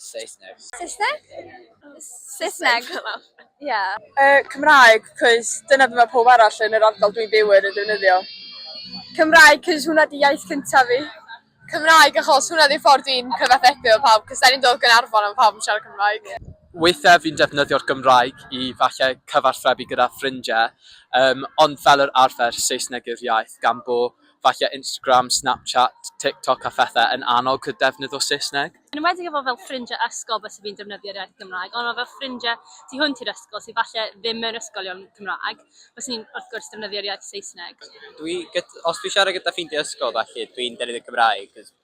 Saesneg. Saesneg? Saesneg. Ie. Yy Cymraeg cos dyna be ma' powb arall yn yr ardal dwi'n byw yn yn defnyddio. Cymraeg cos hwnna di iaith cynta fi. Cymraeg achos hwnna di ffordd dwi'n cyfathrebu efo pawb cos dan ni'n dod o Gaernarfon a ma' pawb yn siarad Cymraeg. Weithia fi'n defnyddio'r Gymraeg i falle cyfathrebu gyda ffrindie yym ond fel yr arfer Saesneg yw'r iaith gan bo Falle Instagram, Snapchat, TikTok a phethau yn annog dy ddefnydd o Saesneg? Yn enwedig efo fel ffrindiau ysgol byse fi'n defnyddio'r iaith Gymraeg, ond efo ffrindiau tu hwnt i'r ysgol sydd falle ddim mewn ysgolion Cymraeg, bysen i'n wrth gwrs defnyddio'r iaith Saesneg. Dwi gyd- os dwi'n siarad gyda ffrindiau ysgol felly dwi'n defnyddio'r Gymraeg 'cos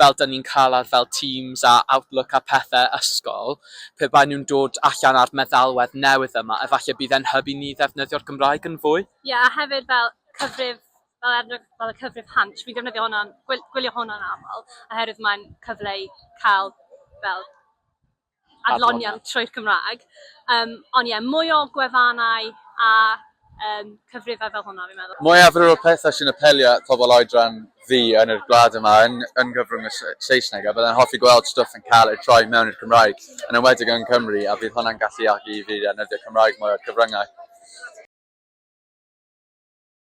fel dan ni'n cael ar fel Teams a Outlook a pethe ysgol, pe baen nhw'n dod allan â'r meddalwedd newydd yma, efallai bydd e'n hyb i ni ddefnyddio'r Gymraeg yn fwy. Ie, a hefyd fel cyfrif, fel er enghraifft fel y cyfrif Hansh, fi'n defnyddio hwnna, gwylio hwnna'n aml, oherwydd mae'n cyfle i cael fel, adloniant trwy'r Cymraeg. Um, ond ie, yeah, mwy o gwefannau a um, cyfrifau fel hwnna, fi'n meddwl. Mwyafrif o'r pethau sy'n apelio at pobl oedran fi yn yr gwlad yma yn, yn gyfrwng y Saesneg, a byddai'n hoffi gweld stwff yn cael ei troi mewn i'r Cymraeg, yn ymwedig yng Nghymru, a bydd hwnna'n galluogi i fi ddefnyddio Cymraeg mwy o'r cyfryngau.